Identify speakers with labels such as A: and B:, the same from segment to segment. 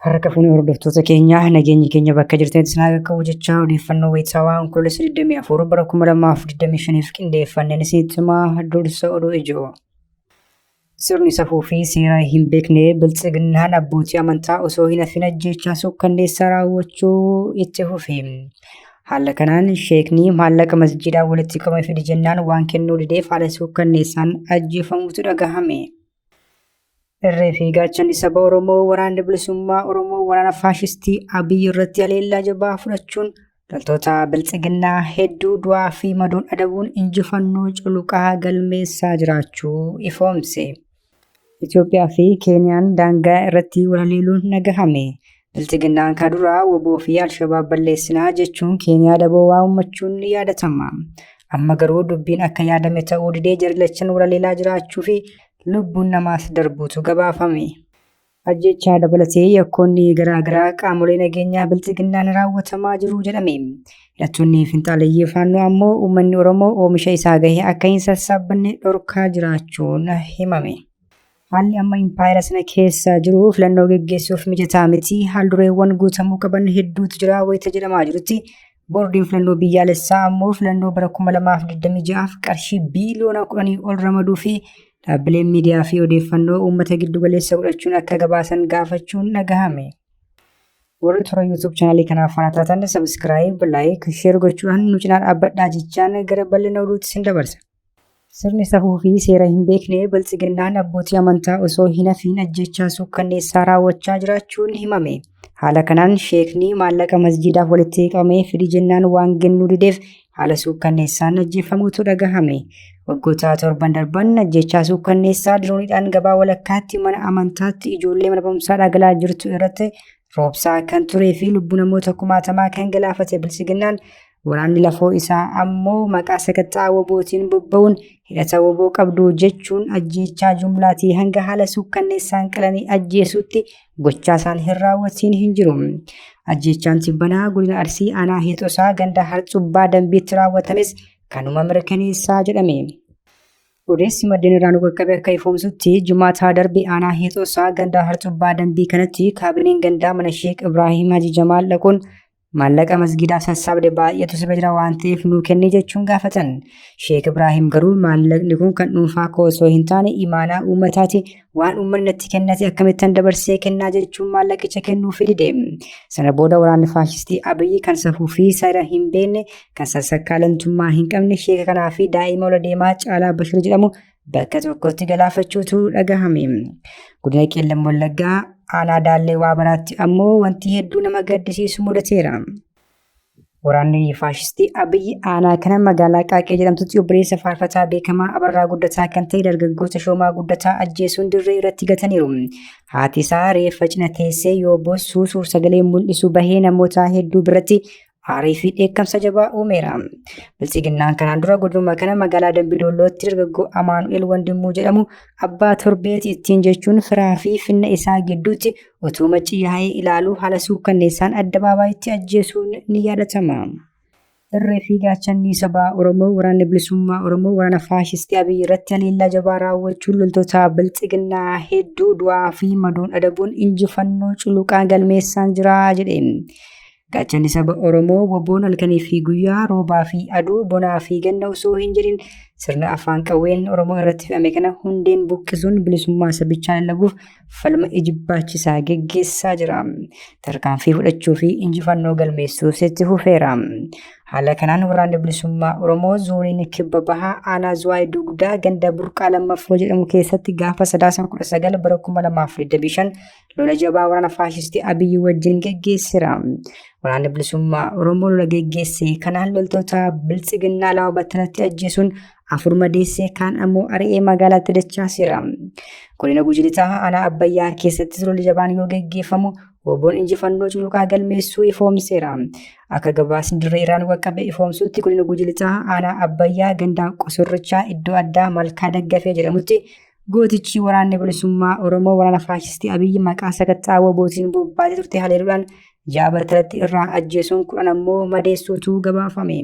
A: Harka fuunee hordoftoota keenyaa nageenyi keenya bakka jirtanitti isin haa qaqqabu jechaa odeeffannoo wayitaawaa Onkoloolessa 24 bara 2025f qindeeffanneen isinitti himaa dursa oduu ijoo. Sirni safuu fi seeraa hin beekne biltsiginnaan abbootii amantaa osoo hin hafin ajjeechaa suukkanneessaa raawwachuu itti fufe. Haala kanaan sheekni maallaqa masjiidaan walitti qabame fidi jennaan waan kennuu dideef haala suukkanneessaan ajjeefamuutu dhagahame. Irree fi gaachanni saba Oromoo waraanni bilisummaa Oromoo waraana faashistii Abiy irratti haleellaa jabaa fudhachuun Loltoota biltsiginnaa hedduu du'aa fi madoon adabuun injifannoo culuqaa galmeessaa jiraachuu ifoomse. Itoophiyaa fi Keeniyaan daangaa irratti walaleeluun nagahame. Biltsiginnaan ka duraa woboo fi Alshabaab balleessinaa jechuun Keeniyaa daboo waa uummachuun ni yaadatama. Amma garuu dubbiin akka yaadame ta'uu didee jarilachan walaleelaa jiraachuu fi lubbuun namaas darbuutu gabaafame. Ajjechaa dabalatee yakkoonni garaa garaa qaamolee nageenyaa bilxiginnaan raawwatamaa jiru jedhame. Hidhattoonni finxaaleyyii faannoo ammoo uummanni Oromoo oomisha isaa gahe akka hin sassaabbanne dhorkaa jiraachuun himame. Haalli amma impaayera sana keessa jiru filannoo geggeessuuf mijataa miti. Haaldureewwan guutamuu qaban hedduutu jira wayita jedhamaa jirutti Boordiin filannoo biyyaalessaa ammoo filannoo bara 2026f qarshii biiliyoona 10 ol ramaduu fi dhaabbileen miidiyaa fi odeeffannoo uummata giddugaleessa godhachuun akka gabaasan gaafachuun dhagahame. Warri toora YouTube chaanaalii kanaaf faana taatan sabiskiraayib, laayik, sheer gochuudhaan nu cinaa dhaabbadhaa jechaan gara bal'ina oduutti sin dabarsa. Sirni safuu fi seera hin beekne biltsiginnaan abbootii amantaa osoo hin hafiin ajjechaa suukkanneessaa raawwachaa jiraachuun himame. Haala kanaan sheekni maallaqa masjiidaaf walitti qabame fidi jennaan waan kennuu dideef haala suukkanneessaan ajjeefamuutu dhagahame. Waggoota torban darban ajjechaa suukkanneessaa dirooniidhaan gabaa walakkaatti mana amantaatti ijoollee mana barumsaa dhagalaa jirtu irratti roobsaa kan turee fi lubbuu namoota kumaatamaa kan galaafate bilchiginnaan waraanni lafoo isaa ammoo maqaa sakatta'aa wobootiin bobba'uun hidhata woboo qabdu jechuun ajjeechaa jumlaatii hanga haala suukkanneessaan qalanii ajjeesuutti gochaa isaan hin raawwatiin hin jiru. Ajjeechaan tibbanaa godina Arsii aanaa Heexosaa ganda Harcubbaa Dambiitti raawwatames kanuma mirkaneessaa jedhame. Odeessi maddeen irraa nu qaqqabe akka ifoomsutti jumaataa darbe aanaa heexoosaa gandaa harcubbaa dambii kanatti kaabineen gandaa mana sheek Ibraahim Haji Jamaal dhaquun maallaqa masgiidaaf sassaabde baay'eetu si jira waan ta'eef nuu kenni jechuun gaafatan. Sheek Ibraahim garuu maallaqni kun kan dhuunfaa koo osoo hin taane imaanaa uummataati Waan uummanni natti kennate akkamittan dabarsee kennaa jechuun maallaqicha kennuuf dide. Sana booda waraanni faashistii Abiyyi kan safuu fi seera hin beekne kan sassakaalantummaa hin qabne sheeka kanaa fi daa'ima ola deemaa Caalaa Bashir jedhamu bakka tokkotti galaafachuutu dhagahame. Godina Qeellam Wallaggaa aanaa Daallee Waabaraatti ammoo wanti hedduu nama gaddisiisu mudateera. Waraanni faashistii Abiyyi aanaa kana magaalaa Qaaqee jedhamtutti obboleessa faarfataa beekamaa Abarraa Guddataa kan ta'e dargaggoo Tashoomaa Guddataa ajjeesuun dirree irratti gataniiru. Haati isaa reeffa cina teessee yoo boossu suursagalee mul'isu bahee namoota hedduu biratti aarii fi dheekkamsa jabaa uumeera. Bilxiginnaan kanaan dura godinuma kana magaalaa Dambidollootti dargaggoo Amaanu'eel Wandimmuu jedhamu abbaa torbeeti ittiin jechuun firaa fi finna isaa gidduutti utuu maccii yaa'ee ilaaluu haala suukkanneessaan addabaabaayitti ajjeesuun ni yaadatama. Irree fi gaachannii sabaa Oromoo waraanni bilisummaa Oromoo waraana faashistii Abiyyi irratti haleellaa jabaa raawwachuun loltoota bilxiginnaa hedduu du'aa fi madoon adabuun injifannoo culuqaa galmeessaan jira jedhe. Gaachanni saba Oromoo waboon halkanii fi guyyaa roobaa fi aduu bonaa fi ganna osoo hin jedhin sirna afaan qawween Oromoo irratti fe'ame kana hundeen buqqisuun bilisummaa sabichaa lallabuuf falma ijibbaachisaa geggeessaa jira. Tarkaanfii fudhachuu fi injifannoo galmeessuus itti fufeera. Haala kanaan waraanni bilisummaa Oromoo zooniin kibba bahaa aanaa Zuwaay Dugdaa ganda Burqaa Lammaffoo jedhamu keessatti gaafa sadaasa 19 bara 2025 lola jabaa waraana faashistii Abiyyi wajjin geggeessera. Waraanni bilisummaa Oromoo lola geggeesse kanaan loltoota biltsiginnaa lama battalatti ajjeesuun afur madeessee kaan ammoo ari'ee magaalaatti dachaaseera. Godina Gujilitaa aanaa Abbayyaa keessattis lolli jabaan yoo geggeeffamu Oboon injifannoo culuqaa galmeessuu ifoomseera. Akka gabaasni dirree irraan qaqqabe ifoomsuutti godina Gujilitaa aanaa Abbayyaa gandaa qosorrichaa iddoo addaa malkaa daggafee jedhamutti Gootichi waraanni bilisummaa Oromoo waraana faashistii Abiyyi maqaa sakatta'aa wabootiin bobbaatee turte haleeluudhaan ja'a battalatti irraa ajjeesuun kudhan ammoo madeessuutu gabaafame.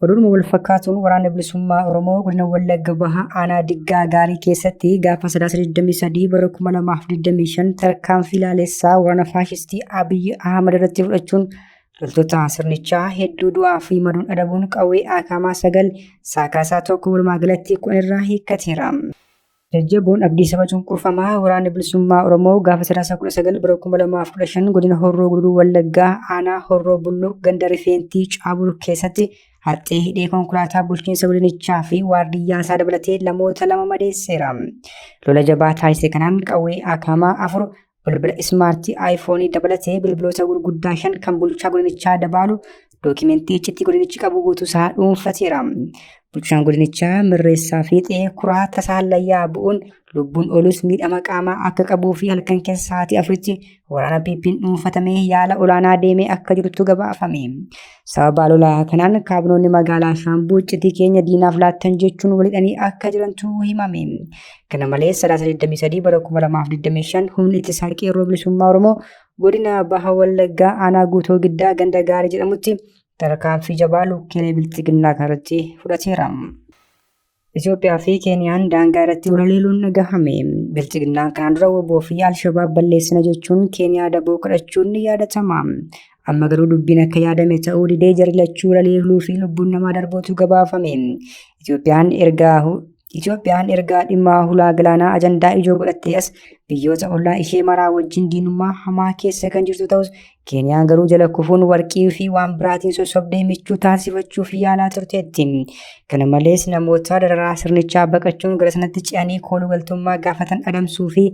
A: Oduudhuma wal fakkaatuun waraanni bilisummaa Oromoo godina Wallagga Bahaa aanaa Diggaa Gaarii keessatti gaafa sadaasa 23 bara 2025 tarkaanfii laalessaa waraana faashistii Abiyyi Ahmad irratti fudhachuun Loltoota sirnichaa hedduu du'aa fi madoon adabuun qawwee aakaamaa sagal saakaasaa tokko walumaa galatti kudhan irraa hiikkateera. Jajjaboon abdii saba cunqurfamaa waraanni bilisummaa Oromoo gaafa sadaasa kudha sagal bara kuma lamaaf kudha shan godina Horroo Guduruu Wallaggaa aanaa Horroo Bulluq ganda Rifeentii Caabur keessatti haxxee hidhee konkolaataa bulchiinsa godinichaa fi waardiyyaa isaa dabalatee lamoota lama madeesseera. Lola jabaa taasise kanaan qawwee aakaamaa afur Bilbila ismaartii aayifoonii dabalatee bilbiloota gurguddaa shan kan bulchaa godinichaa dabaalu dookimentii iccitii godinichi qabu guutuusaa dhuunfateera. Bulchaan godinichaa mirreessaa fiixee kuraa tasaa layyaa bu'uun lubbuun oolus miidhama qaamaa akka qabuu fi halkan keessa sa'aatii afuritti waraana PP'n dhuunfatamee yaala olaanaa deemee akka jirutu gabaafame. Sababa lolaa kanaan kaabinoonni magaalaa Shaambuu iccitii keenya diinaaf laattan jechuun walidhanii akka jirantu himame. Kana malees sadaasa 23 bara 2025 humni ittisaa qeerroo bilisummaa Oromoo godina Baha Wallaggaa aanaa guutoo giddaa ganda gaarii jedhamutti tarkaanfii jabaa lukkeelee bilxiginnaa kanarratti fudhateera. Itoophiyaa fi Keeniyaan daangaa irratti walaleeluun dhagahame. Bilxiginnaan kanaan dura waboo fi Alshabaab balleessina jechuun Keeniyaa daboo kadhachuun ni yaadatama. Amma garuu dubbiin akka yaadame ta'uu didee jarri lachuu walaleeluu fi lubbuun namaa darbuutu gabaafame. Itoophiyaan ergaa Itoophiyaan ergaa dhimmaa hulaa galaanaa ajandaa ijoo godhattee as biyyoota ollaa ishee maraa wajjin diinummaa hamaa keessa kan jirtu ta'us Keeniyaan garuu jala kufuun warqii fi waan biraatiin sossobdee michuu taasifachuuf yaalaa turteetti. Kana malees namoota dararaa sirnichaa baqachuun gara sanatti ce'anii kooluu galtummaa gaafatan adamsuu fi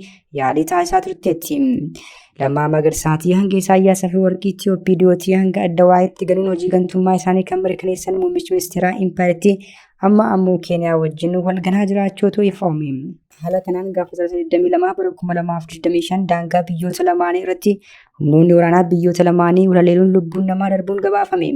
A: yaalii taasisaa turteetti. Lammaa Magarsaatii hanga Isaayyaas fi warqii Itiyoopiidiyootii hanga adda waa'eetti galuun hojii gantummaa isaanii kan mirkaneessan muummichi ministeeraa impaayertii amma ammoo Keeniyaa wajjin walganaa jiraachuutu ifoome. Haala kanaan gaafa sadaasa 22 bara 2025 daangaa biyyoota lamaanii irratti humnoonni waraanaa biyyoota lamaanii walaleeluun lubbuun namaa darbuun gabaafame.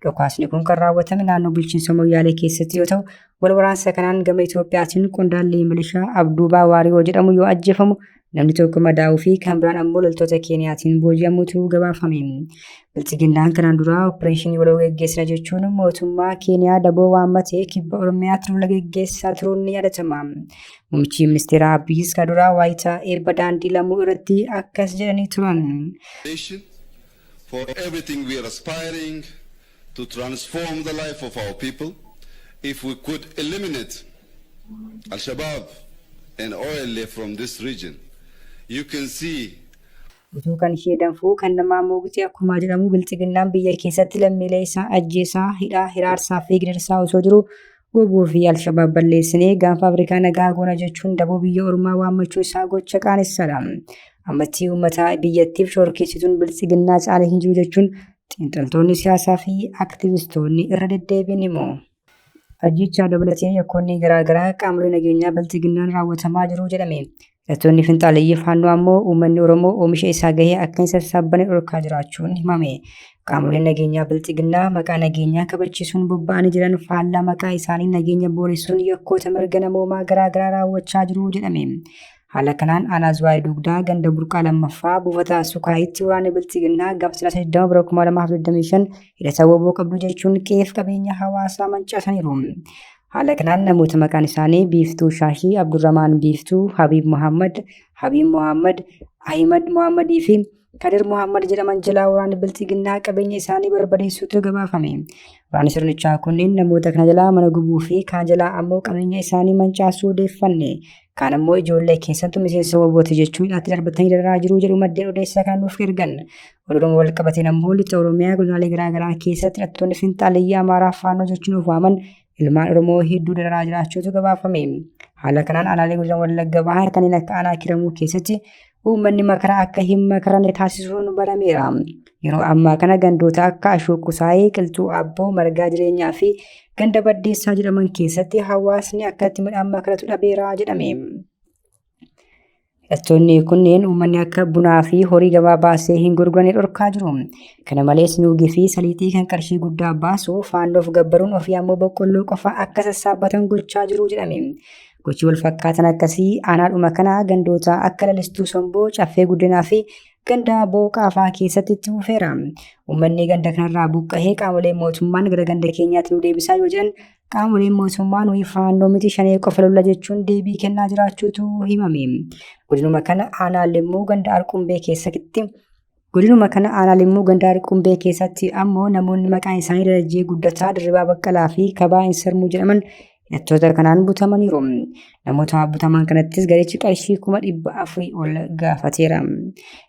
A: Dhukaasni kun kan raawwatame naannoo bulchiinsa Moyyaalee keessatti yoo ta'u, wal waraansa kanaan gama Itoophiyaatiin qondaalli milishaa Abduubaa Waariyoo jedhamu yoo ajjeefamu namni tokko madaa'uu fi kan biraan ammoo loltoota Keeniyaatiin booji'amutu gabaafame. Bilxiginnaan kanaan duraa opereeshinii waloo geggeessina jechuun mootummaa Keeniyaa daboo waammatee kibba Oromiyaatti lola geggeessaa turuun ni yaadatama. Muummichi ministeeraa Abiyyiis kan duraa waayitaa eebba daandii lamuu irratti akkas jedhanii turan. nation
B: for everything we are aspiring to transform the life of our people. If we could eliminate Al-Shabaab and OLA from this region, you can see Utuu kan
A: ishee danfuu kan namaa moogitee akkumaa jedhamuu bilxiginnaan biyya keessatti lammiilee isaa ajjeesaa, hidhaa, hiraarsaa fi gidirsaa osoo jiruu wbo fi Alshabaab balleessinee gaanfa Afrikaa nagaa goona jechuun daboo biyya ormaa waammachuu isaa gocha qaanessadha. Ammattii uummataa biyyattiif shoorkeessituun bilxiginnaa caale hin jiru jechuun xiinxaltoonni siyaasaa fi aktivistoonni irra deddeebiin himu. Ajjeechaa dabalatee yakkoonni garaagaraa qaamolee nageenyaa biltiginnaan raawwatamaa jiru jedhame. Hidhattoonni finxaaleyyii faannoo ammoo uummanni Oromoo oomisha isaa gahee akka hin sassaabbanne dhorkaa jiraachuun himame. Qaamoleen nageenyaa biltiginnaa maqaa nageenyaa kabachiisuun bobba'anii jiran faallaa maqaa isaanii nageenya booressuun yakkoota mirga namoomaa garaagaraa raawwachaa jiru jedhame. Haala kanaan aanaa Zuwaayee Dugdaa ganda burqaa lammaffaa buufata Sukaayitti waraanni bilxiginnaa gaafa sadaasa 20 bara 2025 hidhata woboo qabdu jechuun qe'eef qabeenya hawaasaa mancaasaniiru. Haala kanaan namoota maqaan isaanii Biiftuu Shaashii, Abdurramaan Biiftuu, Habiib Muhammad, Habiib Muhammad, Ahimad Muhammadii fi Kadir Mohaammed jedhaman jalaa waraanni biltiginnaa qabeenya isaanii barbadeessuutu gabaafame. Waraanni sirnichaa kunneen namoota kana jalaa mana gubuu fi kaan jalaa ammoo qabeenya isaanii mancaasuu odeeffanne. Kaan ammoo ijoollee keessattuu miseensa wabooti jechuun hidhaatti darbatanii dararaa jiruu jedhu maddeen odeessaa kan nuuf ergan. Oromoo wal qabateen ammoo lixa Oromiyaa godinaalee garaagaraa keessatti hidhattoonni finxaaliyyaa Amaaraa faannoo jechuun of waaman ilmaan Oromoo hedduu dararaa jiraachuutu gabaafame. Haala kanaan aanaalee godina Wallagga Bahaa kanneen akka aanaa kiramuu keessatti uummanni makaraa akka hin makaramne taasisuun barameera. Yeroo ammaa kana gandoota akka Ashuu Qusaayee, Qilxuu Abboo, Margaa Jireenyaa fi ganda Baddeessaa jedhaman keessatti hawaasni akkatti midhaan makaratu dhabeera jedhame. Hidhattoonni kunneen uummanni akka bunaa fi horii gabaa baasee hin gurgurane dhorkaa jiru. Kana malees nuugii fi saliixii kan qarshii guddaa baasu faannoof gabbaruun ofii ammoo boqqolloo qofa akka sassaabbatan gochaa jiru jedhame. Gochi wal fakkaatan akkasii aanaadhuma kanaa gandoota akka lalistuu somboo, caffee guddinaa fi gandaa booqaa fa'aa keessatti itti fufeera. Uummanni ganda kanarraa buqqahee qaamolee mootummaan gara ganda keenyaatti nu deebisaa yoo jedhan Qaamoleen mootummaa nuyi faannoo miti shanee qofa lolla jechuun deebii kennaa jiraachuutu himame. Godinuma kana aanaa limmuu ganda alqumbee keessatti Godinuma kana aanaa limmuu ganda alqumbee keessatti ammoo namoonni maqaan isaanii Darajjee Guddataa, Dirribaa Baqqalaa fi Kabaa Insarmuu jedhaman hidhattoota kanaan butamaniiru. Namoota butaman kanattis garichi qarshii kuma dhibba afurii ol gaafateera.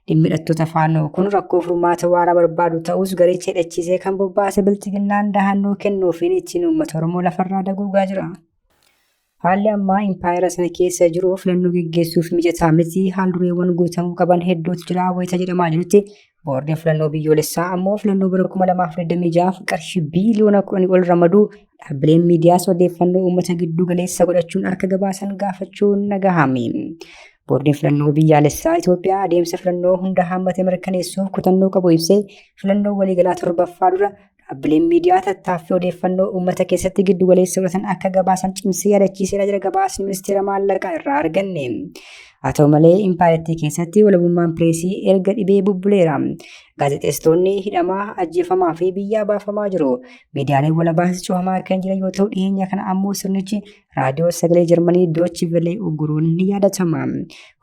A: Dhimmi hidhattoota faannoo kun rakkoo furmaata waaraa barbaadu ta'us garicha hidhachiisee kan bobbaase bilxiginnaan dahannoo kennuufiin ittiin uummata Oromoo lafarraa daguugaa jira. Haalli ammaa impaayera sana keessa jiru filannoo geggeessuuf mijataa miti haal dureewwan guutamuu qaban hedduutu jira wayita jedhamaa jirutti Boordiin filannoo biyyoolessaa ammoo filannoo bara 2026 qarshii biiliyoona 10 ol ramaduu dhaabbileen miidiyaas odeeffannoo uummata gidduu galeessa godhachuun akka gabaasan gaafachuun nagahame. Boordiin filannoo biyyaalessaa Itoophiyaa adeemsa filannoo hunda hammate mirkaneessuuf kutannoo qabu ibsee filannoo waliigalaa torbaffaa dura Dhaabbileen miidiyaa tattaaffii odeeffannoo uummata keessatti giddu galeessa godhatan akka gabaasan cimsee yaadachiiseera jira gabaasni ministeera maallaqaa irraa arganne. Haa ta'u malee impaayerattii keessatti walabummaan pireesii erga dhibee bubbuleera. Gaazexeessitoonni hidhamaa, ajjeefamaa fi biyyaa baafamaa jiru. Miidiyaaleen walabaas cufamaa kan jiran yoo ta'u dhiyeenya kana ammoo sirnichi raadiyoo sagalee jarmanii doochi velee ugguruun ni yaadatama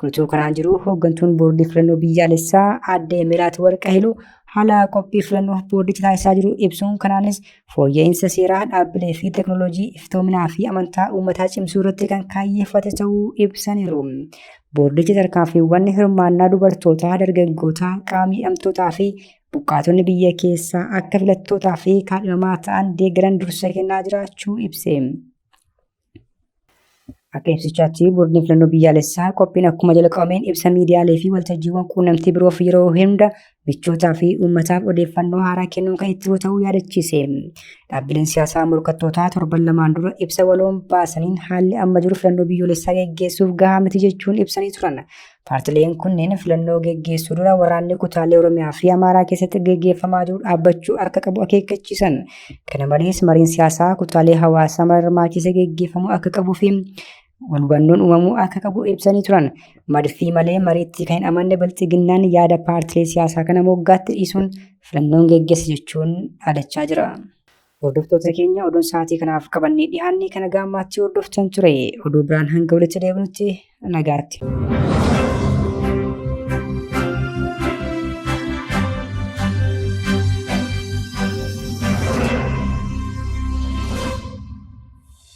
A: kutuu kanaan jiru hooggantuun boordii filannoo biyyaalessaa aadde miraat warqahiluu haala qophii filannoo boordichi taasisaa jiru ibsuun kanaanis fooyya'insa seeraa dhaabbilee fi teknooloojii iftoominaa fi amantaa uummataa cimsuu irratti kan kaayyeeffate ta'uu ibsaniiru. Boordichi tarkaanfiiwwan hirmaannaa dubartootaa, dargaggootaa, qaama hidhamtootaa fi Buqqaatonni biyya keessaa akka filattootaa fi kaadhimamaa ta'an deeggaran dursa kennaa jiraachuu ibse. Akka ibsichaatti boordiin filannoo biyyaalessaa qophiin akkuma jalqabameen ibsa miidiyaalee fi waltajjiiwwan quunnamtii biroof yeroo hunda michootaa fi uummataaf odeeffannoo haaraa kennuun kan itti ta'uu yaadachiise. Dhaabbileen siyaasaa morkattootaa torban lamaan dura ibsa waloon baasaniin haalli amma jiru filannoo biyyoolessaa geggeessuuf gahaa miti jechuun ibsanii turan. Paartileen kunneen filannoo geggeessuu dura waraanni kutaalee Oromiyaa fi Amaaraa keessatti geggeeffamaa jiru dhaabbachuu akka qabu akeekkachiisan. Kana malees mariin siyaasaa kutaalee hawaasaa mara hirmaachiisee geggeeffamuu akka qabuu fi walhubannoon uumamuu akka qabu ibsanii turan. Madfii malee mariitti kan hin amanne bilxiginnaan yaada paartilee siyaasaa kana moggaatti dhiisuun filannoon geggeessa jechuun dhaadachaa jira. Hordoftoota keenya oduun sa'aatii kanaaf qabannee dhiyaannee kana gaammaatti hordoftan ture. Oduu biraan hanga walitti deebinutti nagaatti.